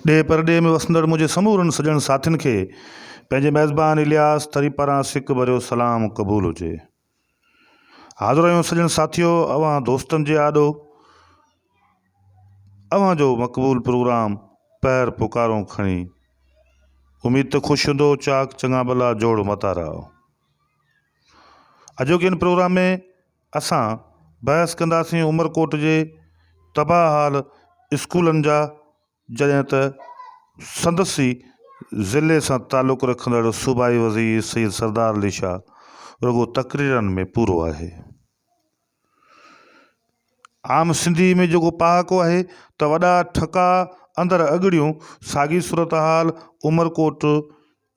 ڏيهه پرڏيهه ۾ وسندڙ منهنجي سمورن سڄڻ ساٿين کي پنهنجي ميزبان الياس ٿري پاران سڪ ڀريو سلام قبول هجي. حاضرهيون سڄڻ ساٿيو اوهان دوستن جي آڏو اوهان جو مقبول پروگرام پهر پڪارون کڻي اميد ته خوش هوندو چاڪ چڱا ڀلا جوڙ متارا اڄوڪي ان پروگرام ۾ اسان بحث ڪنداسين عمرڪوٽ جي تباهه حال اسڪولن جا جڏهن ته سندس ئي ضلعي سان تعلق رکندڙ صوبائي وزير سيد سردار علي شاهه رڳو تقريرن ۾ پورو آهي. عام سنڌي ۾ جيڪو پهاڪو آهي ته وڏا ٺڪا اندر اڳڙيون ساڳي صورتحال عمرڪوٽ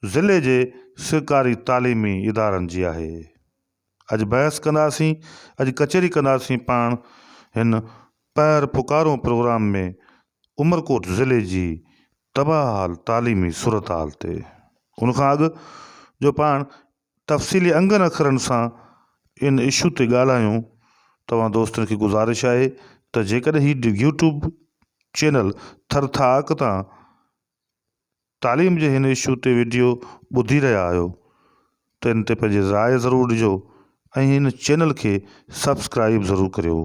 ضلعي جي سرڪاري تعليمي ادارن جي آهي. اڄ بحث ڪنداسين، اڄ ڪچهري ڪنداسين پاڻ هن پهر پڪارون پروگرام ۾ عمرڪوٽ ضلعي جي تباهه حال تعليمي صورتحال تي. ان کان اڳ جو پاڻ تفصيلي انگن اکرن سان ان اشو تي ڳالهايون توهان دوستن کي گذارش آهي ته جيڪڏهن هي يوٽيوب چينل ٿرٿاڪ تان تعليم جي هن اشو تي وڊيو ٻڌي رهيا آهيو ته ان تي پنهنجي راء ضرور ڏجو ۽ هن چينل کي سبسڪرائيب ضرور ڪريو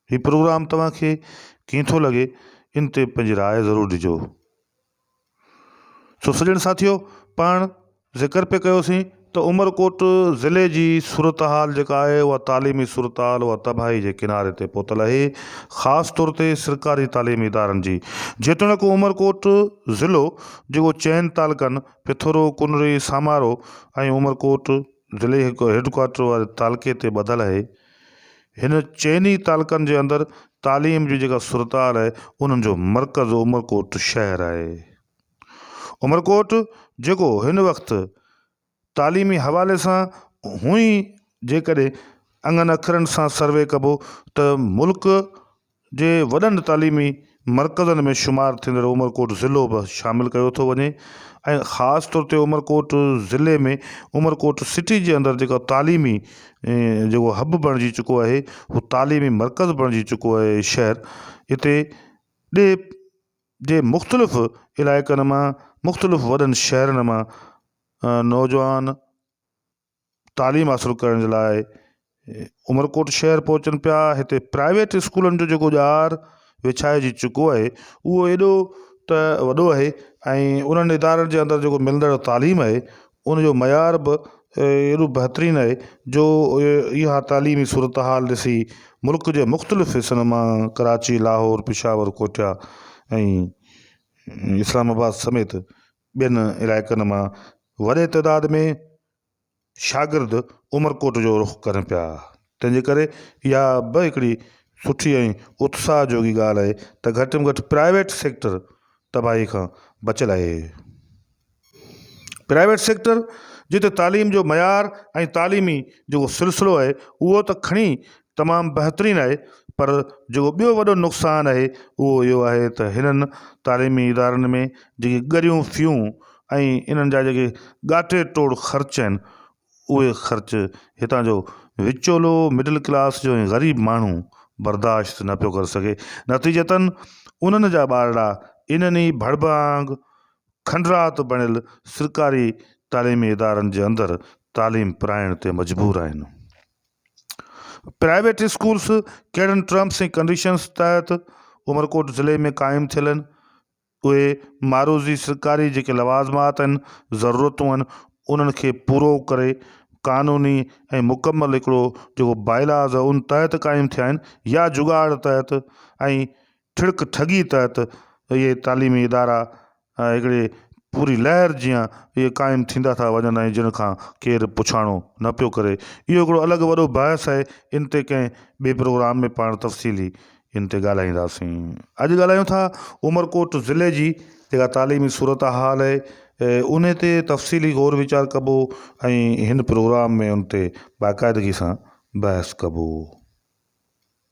هي پروگرام توهان کي ڪيئن ٿو لڳي ان تي پنهنجي راء ضرور ڏجو سو سڄڻ ساٿيو پاڻ ذڪر پئي ڪيو سين ته عمرڪوٽ ضلعي جي صورتحال جيڪا آهي اها تعليمي صورتحال اها تباهي جي ڪناري تي پهتل آهي خاص طور تي سرڪاري تعليمي ادارن جي جيتوڻيڪ عمرڪوٽ ضلعو جيڪو چئن تعلقن پٿورو، ڪنري، سامارو ۽ عمرڪوٽ ضلعي هيڊڪوارٽر واري تعلقي تي ٻڌل آهي هن چئن ئي تعلقن جي اندر تعليم جي جيڪا صورتحال آهي انهن جو مرڪز عمرڪوٽ شهر آهي. عمرڪوٽ جيڪو هن وقت تعليمي حوالي سان هونئن جيڪڏهن انگن اکرن سان سروي ڪبو ته ملڪ جي وڏن تعليمي مرڪزن ۾ شمار ٿيندڙ عمرڪوٽ ضلعو به شامل ڪيو ٿو وڃي ۽ خاص طور تي عمرڪوٽ ضلعي ۾ عمرڪوٽ سٽي جي اندر جيڪا تعليمي جيڪو حب بڻجي چڪو آهي هو تعليمي مرڪز بڻجي چڪو آهي شهر هتي ڏي جي مختلف علائقن مان مختلف وڏن شهرن مان نوجوان تعليم حاصل ڪرڻ جي لاء عمرڪوٽ شهر پهچن پيا هتي پرائيويٽ اسڪولن جو جيڪو ڄار وڇائجي چڪو آهي اهو ايڏو ته وڏو آهي ۽ انهن ادارن جي اندر جيڪو ملندڙ تعليم آهي ان جو معيار به ايڏو بهترين آهي جو اها تعليمي صورتحال ڏسي ملڪ جي مختلف حصن مان ڪراچي، لاهور، پشاور، ڪوئٽا ۽ اسلام آباد سميت ٻين علائقن مان وڏي تعداد ۾ شاگرد عمرڪوٽ جو رخ ڪرن پيا تنهن جي ڪري اها به هڪڙي سٺي ۽ اتساهه جوڳي ڳالهه آهي ته گهٽ ۾ گهٽ پرائيويٽ سيڪٽر تباهي کان بچيل آهي. پرائيويٽ سيڪٽر جتي تعليم جو معيار ۽ تعليمي جيڪو سلسلو آهي اهو ته کڻي تمام بهترين آهي پر جيڪو ٻيو وڏو نقصان آهي اهو اهو آهي ته هنن تعليمي ادارن ۾ جيڪي ڳريون فيون ۽ انهن جا جيڪي ڳاٽي ٽوڙ خرچ آهن اهي خرچ هتان جو وچولو مڊل ڪلاس جو ۽ غريب ماڻهو برداشت نه پيو ڪري سگهي نتيجتن انهن جا ٻارڙا انهن ئي ڀڙڀانگ کنڊرات بڻيل سرڪاري تعليمي ادارن جي اندر تعليم پرائڻ تي مجبور آهن. پرائيويٽ اسڪولز ڪهڙن ٽرمس ۽ ڪنڊيشنز تحت عمرڪوٽ ضلعي ۾ قائم ٿيل آهن، اهي معروضي سرڪاري جيڪي لوازمات ۽ ضرورتون آهن انهن کي پورو ڪري قانوني ۽ مڪمل هڪڙو جيڪو باء لاز ان تحت قائم ٿيا آهن يا جڳاڙ تحت ۽ ٺڙڪ ٺڳي تحت اهي تعليمي ادارا هڪڙي پوري لهر جيان اهي قائم ٿيندا ٿا وڃن ۽ جن کان ڪير پڇاڻو نه پيو ڪري. اهو هڪڙو الڳ وڏو بحث آهي، ان تي ڪنهن ٻئي پروگرام ۾ پاڻ تفصيلي ان تي ڳالهائينداسين. اڄ ڳالهايون ٿا عمرڪوٽ ضلعي جي جيڪا تعليمي صورتحال اهي ان تي تفصيلي غور ويچار ڪبو ۽ هن پروگرام ۾ ان تي باقاعدگي سان بحث ڪبو.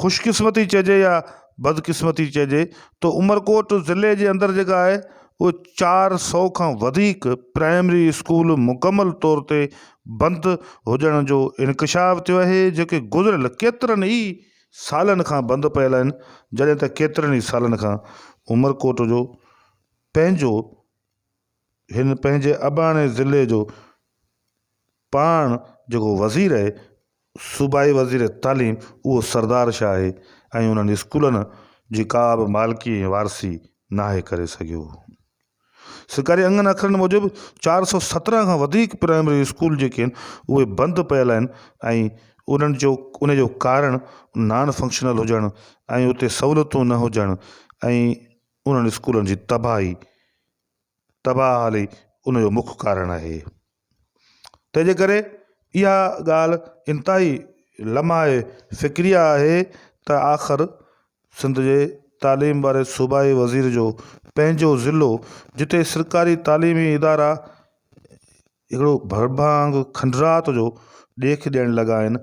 خوش قسمتي چئجي يا بد قسمتي چئجي تو عمرڪوٽ ضلعي جي اندر جيڪا آهي اهي چار سو کان وڌيڪ پرائمري اسڪول مڪمل طور تي بند هجڻ جو انڪشاف ٿيو آهي جيڪي گذريل ڪيترن ئي سالن کان بند پيل آهن جڏهن ته ڪيترن ئي سالن کان عمرڪوٽ جو پنهنجو هن پنهنجي اباڻي ضلعي جو پاڻ جيڪو وزير اهي صوبائي وزير تعليم اهو سردار شاهه اهي ۽ انهن اسڪولن جي ڪا به مالڪي ۽ وارثي ناهي ڪري سگهيو. سرڪاري انگن اکرن موجب چار سؤ سترهن کان وڌيڪ پرائمري اسڪول جيڪي اهن اهي بند پيل آهن ۽ انهن جو انهي جو ڪارڻ نان فنڪشنل هجڻ ۽ اتي سهولتون نه هجڻ ۽ انهن اسڪولن جي تباهي تباهه حالي ان جو مک ڪارڻ اهي. تنهنجي ڪري اها ڳالهه انتهائي لمحي فڪري آهي ته آخر سنڌ جي تعليم واري صوبائي وزير جو پنهنجو ضلعو جتي سرڪاري تعليمي ادارا اهڙو ڀرڀانگ کنڊرات جو ڏيک ڏيڻ لڳا آهن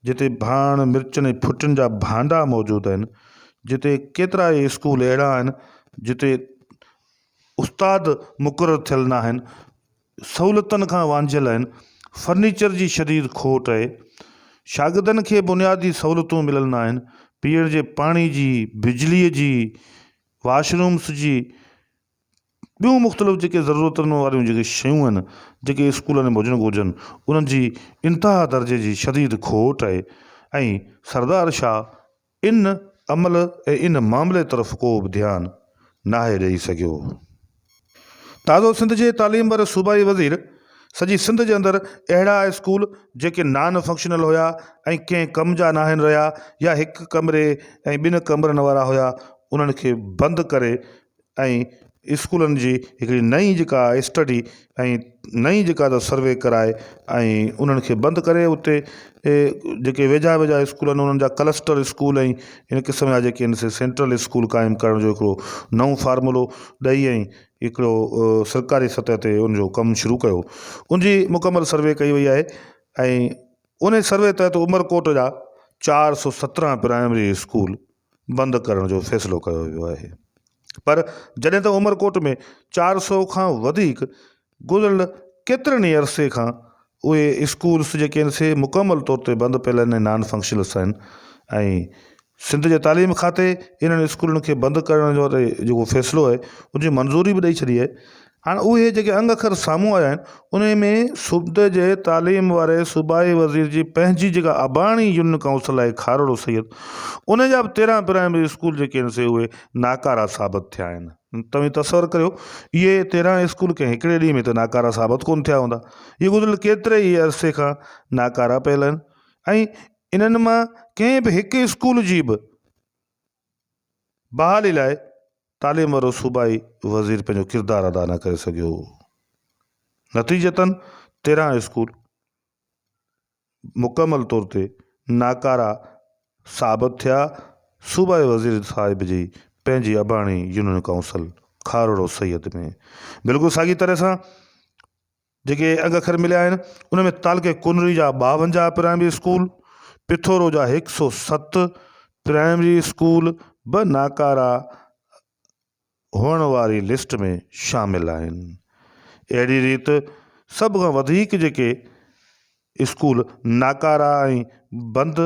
جتي ڀاڻ، مرچن ۽ ڦٽن جا ڀانڊا موجود آهن، جتي ڪيترا ئي اسڪول اهڙا آهن جتي استاد مقرر ٿيل ناهن، سهولتن کان وانجهيل آهن، فرنيچر جي شديد کوٽ آهي، شاگردن کي بنيادي سهولتون مليل ناهن، پيئڻ جي پاڻي جي، بجلي جي، واش رومس جي، ٻيون مختلف جيڪي ضرورتن واريون جيڪي شيون آهن جيڪي اسڪولن ۾ هجڻ گهرجن انهن جي انتها درجي جي شديد کوٽ آهي ۽ سردار شاهه ان عمل ۽ ان معاملي طرف ڪو به ڌيان ناهي ڏئي سگهيو. تازو سنڌ جي تعليم واري صوبائي وزير سڄي سنڌ جي اندر اهڙا اسڪول جيڪي نان فنڪشنل هيا ۽ ڪنهن ڪم جا ناهن رهيا يا هڪ ڪمري ۽ ٻن ڪمرن وارا هيا انهن کي بند ڪري ۽ اسڪولن جي هڪڙي نئين جيڪا اسٽڊي ۽ نئين جيڪا ته سروي ڪرائي ۽ انهن کي بند ڪري اتي جيڪي ويجها ويجها اسڪول آهن انهن جا ڪلسٽر اسڪول ۽ ان قسم جا جيڪي آهن سينٽرل اسڪول قائم ڪرڻ جو هڪڙو نئون فارمولو ڏئي ۽ هڪڙو سرڪاري سطح تي ان جو ڪم شروع ڪيو ان جي مڪمل سروي ڪئي وئي آهي ۽ ان سروي تحت عمرڪوٽ جا چار سو سترهن پرائمري اسڪول بند ڪرڻ جو فيصلو ڪيو ويو آهي پر جڏهن ته عمرڪوٽ ۾ چار سؤ کان وڌيڪ گذريل ڪيترن ئي عرصي کان اهي اسڪولس جيڪي آهن سي مڪمل طور تي بند پيل آهن ۽ نان فنڪشنلس آهن ۽ سنڌ جي تعليم کاتي انهن اسڪولن کي بند ڪرڻ جو جيڪو فيصلو آهي ان جي منظوري به ڏئي ڇڏي آهي هاڻ اهي جيڪي انگ اکر سامهون آيا آهن، انهي ۾ صوبي جي تعليم واري صوبائي وزير جي پنهنجي جيڪا اباڻي يونين ڪائونسل آهي کارڙو سيد، انهي جا به تيرهن پرائمري اسڪول جيڪي آهن سي اهي ناڪارا ثابت ٿيا آهن. توهين تصور ڪريو اهي تيرهن اسڪول ڪنهن هڪڙي ڏينهن ۾ ته ناڪارا ثابت ڪونه ٿيا هوندا. اهي گذريل ڪيتري ئي عرصي کان ناڪارا پيل آهن ۽ انهن مان ڪنهن به هڪ اسڪول جي به. بحالي لاء تعليم وارو صوبائي وزير پنهنجو ڪردار ادا نه ڪري سگهيو. نتيجتن تيرهن اسڪول مڪمل طور تي ناڪارا ثابت ٿيا، صوبائي وزير صاحب جي پنهنجي اباڻي يونين ڪائونسل کارڙو سيد ۾ بلڪل ساڳي طرح سان جيڪي اڳ اکر مليا آهن انهن ۾ تعلقي ڪنري جا ٻاونجاهه پرائمري اسڪول، پٿورو جا هڪ سؤ ست پرائمري اسڪول به ناڪارا هئڻ واري لسٽ ۾ شامل آهن. اهڙي ريت سڀ کان وڌيڪ جيڪي اسڪول ناڪارا ۽ بند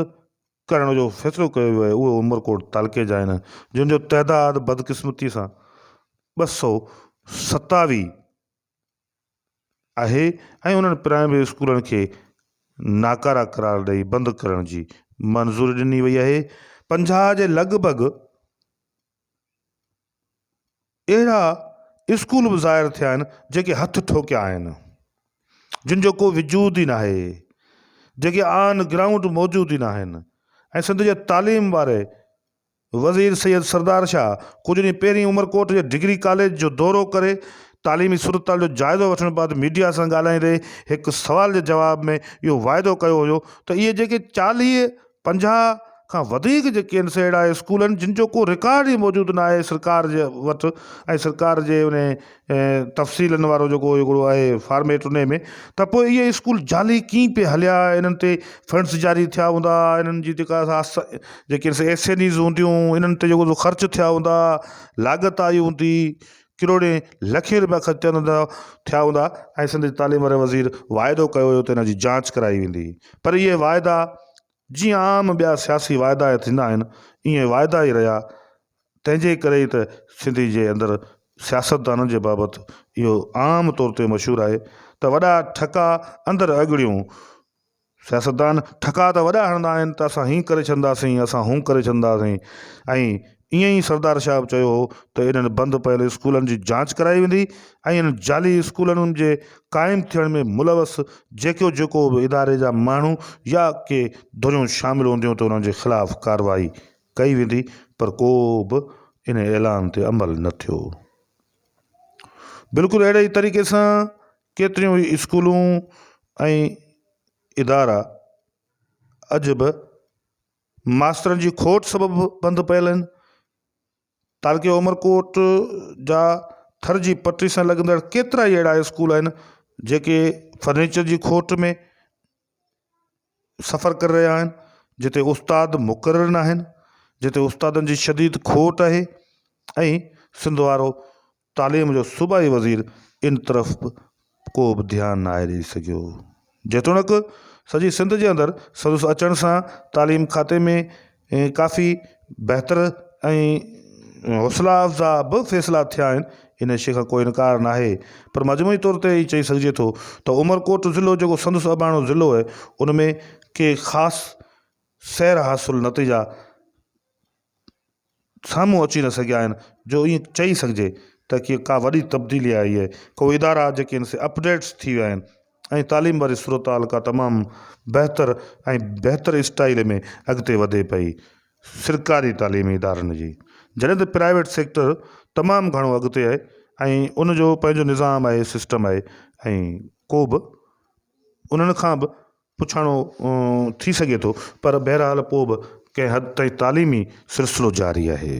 ڪرڻ جو فيصلو ڪيو ويو آهي اهي عمرڪوٽ تعلقي جا آهن جن جو تعداد بدقسمتي سان ٻه سؤ ستاويهه آهي ۽ انهن پرائمري اسڪولن کي ناڪارا قرار ڏئي بند ڪرڻ جي منظوري ڏني وئي آهي پنجاهه جي لڳ ڀڳ اهڙا اسڪول به ظاهر ٿيا آهن جيڪي هٿ ٺوڪيا آهن جن جو ڪو وجود ئي ناهي جيڪي آن گرائونڊ موجود ئي ناهن ۽ سنڌ جي تعليم واري وزير سيد سردار شاهه ڪجهه ڏينهن پهرين عمرڪوٽ جي ڊگري ڪاليج جو دورو ڪري تعليمي صورتحال جو جائزو وٺڻ بعد ميڊيا سان ڳالهائيندي هڪ سوال جي جواب ۾ اهو واعدو ڪيو هيو ته اهي جيڪي چاليهه پنجاهه کان وڌيڪ جيڪي آهن سي اهڙا اسڪول آهن جن جو ڪو رڪارڊ ئي موجود ناهي سرڪار جي وٽ ۽ سرڪار جي انهي ۽ تفصيلن وارو جيڪو هڪڙو آهي فارميٽ انهي ۾ ته پوء اهي اسڪول جعلي ڪيئن پئي هليا انهن تي فنڊز جاري ٿيا هوندا انهن جي جيڪا جيڪي ايسينيز هونديون انهن تي جيڪو خرچ ٿيا هوندا لاڳت آئي هوندي ڪروڙين لکين رپيا خرچ ٿيل هوندا ٿيا هوندا ۽ سنڌ تعليم واري وزير واعدو ڪيو هيو ته ان جي جانچ ڪرائي ويندي پر اهي واعدا جيئن عام ٻيا سياسي واعدا ٿيندا آهن اهي واعدا ئي رهيا تنهن جي ڪري ئي ته سنڌي جي اندر سياستدانن جي بابت اهو عام طور تي مشهور آهي ته وڏا ٺڪا اندر اڳڙيون. سياستدان ٺڪا ته وڏا هڻندا آهن ته اسان هيئن ڪري ڇڏنداسين، اسان هون ڪري ڇڏنداسين ۽ ائين ئي سردار شاهه به چيو هو ته انهن بند پيل اسڪولن جي جاچ ڪرائي ويندي ۽ انهن جعلي اسڪولن جي قائم ٿيڻ ۾ ملوث جيڪو جيڪو به اداري جا ماڻهو يا ڪي ڌريون شامل هونديون ته انهن جي خلاف ڪارروائي ڪئي ويندي پر ڪو به ان اعلان تي عمل نه ٿيو. بلڪل اهڙي ئي طريقي سان ڪيتريون ئي اسڪولون ۽ ادارا اڄ به ماسترن جي کوٽ سبب بند پيل آهن. تعلقي عمرڪوٽ جا ٿر جي پٽي سان لڳندڙ ڪيترا ئي اهڙا اسڪول آهن جيڪي فرنيچر جي کوٽ ۾ سفر ڪري رهيا آهن جتي استاد مقرر نه آهن جتي استادن جي شديد کوٽ آهي ۽ سنڌ وارو تعليم جو صوبائي وزير ان طرف به ڪو به ڌيان نه آهي ڏئي سگهيو جيتوڻڪ سڄي سنڌ جي اندر سندس اچڻ سان تعليم کاتي ۾ ۽ ڪافي بهتر ۽ حوصلا افزا به فيصلا ٿيا آهن ان شي کان ڪو انڪار نه آهي پر مجموعي طور تي هي چئي سگهجي ٿو ته عمرڪوٽ ضلعو جيڪو سندس اباڻو ضلعو آهي ان ۾ ڪي خاص سير حاصل نتيجا سامهون اچي نه سگهيا آهن جو ايئن چئي سگهجي ته ڪي ڪا وڏي تبديلي آئي آهي ڪو ادارا جيڪي ان سي اپڊيٽس ٿي ويا آهن ۽ تعليم واري صورتحال ڪا تمام بهتر ۽ بهتر اسٽائيل ۾ اڳتي وڌي پئي. سرڪاري تعليمي ادارن جي جڏهن ته پرائيويٽ سيڪٽر تمام گهڻو اڳتي آهي ۽ ان جو پنهنجو نظام آهي سسٽم آهي ۽ ڪو به انهن کان به پڇاڻو ٿي سگهي ٿو پر بهرحال پوء به ڪنهن حد تائين تعليمي سلسلو جاري آهي.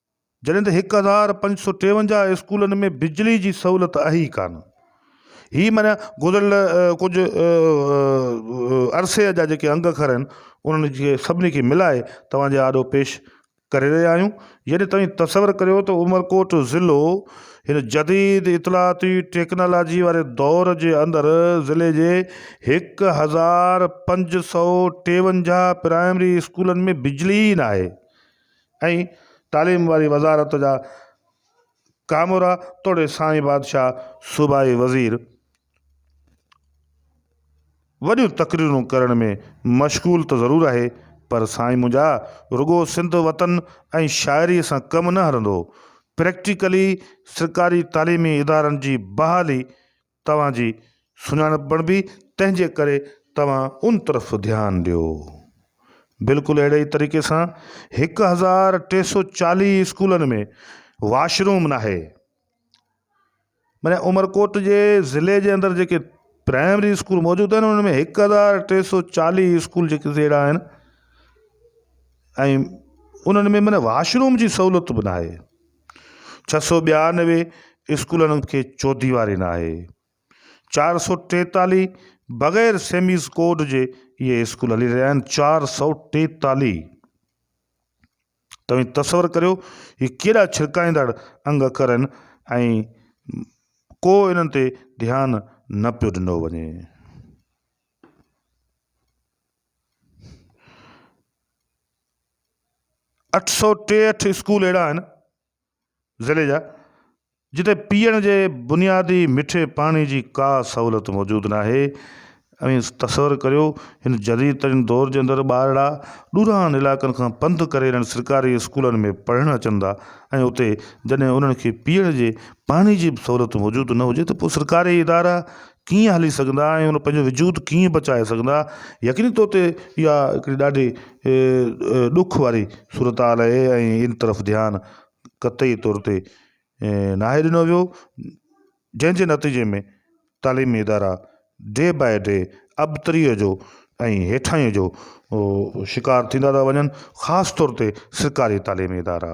جڏهن ته هڪ هزار پنج سؤ ٽيونجاهه اسڪولن ۾ بجلي جي سهولت آهي ئي ڪانه. هي معنيٰ گذريل ڪجهه عرصي جا جيڪي انگ اکر آهن انهن کي سڀني کي ملائي توهان جي آڏو پيش ڪري رهيا آهيون. يعني توهين تصور ڪريو ته عمرڪوٽ ضلعو هن جديد اطلاعاتي ٽيڪنالاجي واري دور جي اندر ضلعي جي هڪ هزار پنج سؤ ٽيونجاهه پرائمري اسڪولن ۾ بجلي ئي ناهي. ۽ تعليم واري وزارت جا ڪامورا توڙي سائين بادشاهه صوبائي وزير وڏيون تقريرون ڪرڻ ۾ مشغول ته ضرور آهي پر سائين منهنجا رڳو سنڌ وطن ۽ شاعري سان ڪم نه هلندو پريڪٽيڪلي سرڪاري تعليمي ادارن جي بحالي توهان جي سڃاڻپ بڻبي تنهن جي ڪري توهان ان طرف ڌيان ڏيو. بلڪل اهڙي ئي طريقي سان هڪ هزار ٽي سو چاليهه اسڪولن ۾ واش روم ناهي. معني عمرڪوٽ جي ضلعي جي اندر جيڪي پرائمري اسڪول موجود آهن انهن ۾ هڪ هزار ٽي سو چاليهه اسڪول جيڪي اهڙا آهن ۽ انهن ۾ معني واش روم جي سهولت به ناهي. ڇهه سؤ ٻيانوي اسڪولن کي چوديواري ناهي، چار سؤ ٽيتاليهه بغير سيميز ڪوڊ جي اهي اسڪول هلي رهيا آهن، چار سؤ ٽيتاليهه توهين تصور ڪريو هي ڪيڏا ڇرڪائيندڙ انگ اکر آهن ۽ ڪو انهن تي ڌيان نه پيو ڏنو وڃي. اٺ سؤ ٽيهٺ اسڪول اهڙا آهن ضلعي جا جتي پيئڻ جي بنيادي مٺي پاڻي جي ڪا سهولت موجود نه آهي اوهين تصور ڪريو هن جديد ترين دور جي اندر ٻارڙا ڏوران علائقن کان پنڌ ڪري انهن سرڪاري اسڪولن ۾ پڙهڻ اچن ٿا ۽ اتي جڏهن انهن کي پيئڻ جي پاڻي جي سهولت موجود نه هجي ته پوء سرڪاري ادارا ڪيئن هلي سگهندا ۽ هن پنهنجو وجود ڪيئن بچائي سگهندا يقيني طور تي اها هڪڙي ڏاڍي ڏک واري صورتحال آهي ۽ ان طرف ڌيان قطعي طور تي ناهي ڏنو ويو جنهن جي نتيجي ۾ تعليمي ادارا ڊي بائي ڊي ابتري جو ۽ هيٺائين جو شڪار ٿيندا ٿا وڃن خاص طور تي سرڪاري تعليمي ادارا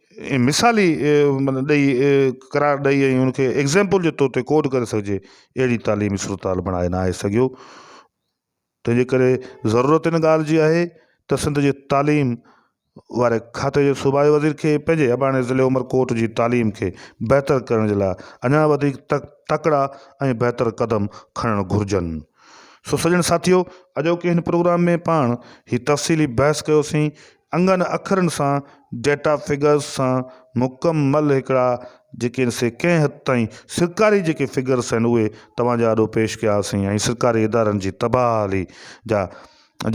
مثالي معنيٰ ڏئي قرار ڏئي ۽ ان کي ايگزيمپل جي طور تي ڪوڊ ڪري سگهجي اهڙي تعليمي صورتحال بڻائي نه آهي سگهيو تنهنجي ڪري ضرورت ان ڳالهه جي آهي ته سنڌ جي تعليم واري کاتي جي صوبائي وزير کي پنهنجي اباڻي ضلعي عمرڪوٽ جي تعليم کي بهتر ڪرڻ جي لاء اڃان وڌيڪ تڪڙا ۽ بهتر قدم کڻڻ گهرجن سو سڄڻ ساٿيو اڄوڪي هن پروگرام ۾ پاڻ هي تفصيلي بحث ڪيوسين انگن اکرن سان ڊيٽا فگرز سان مڪمل هڪڙا جيڪي سي ڪنهن حد تائين سرڪاري جيڪي فگرز آهن اهي توهان جي آڏو پيش ڪياسين ۽ سرڪاري ادارن جي تباهلي جا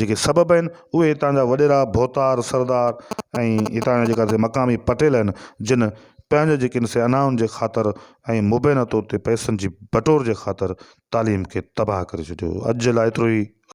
جيڪي سبب آهن اهي هتان جا وڏيرا ڀوتار سردار ۽ هتان جا جيڪا سي مقامي پٽيل آهن جن پنهنجي جيڪي سي انائن جي خاطر ۽ مبينا طور تي پئسن جي بٽور جي خاطر تعليم کي تباهه ڪري ڇڏيو اڄ جي لاء ايترو ئي.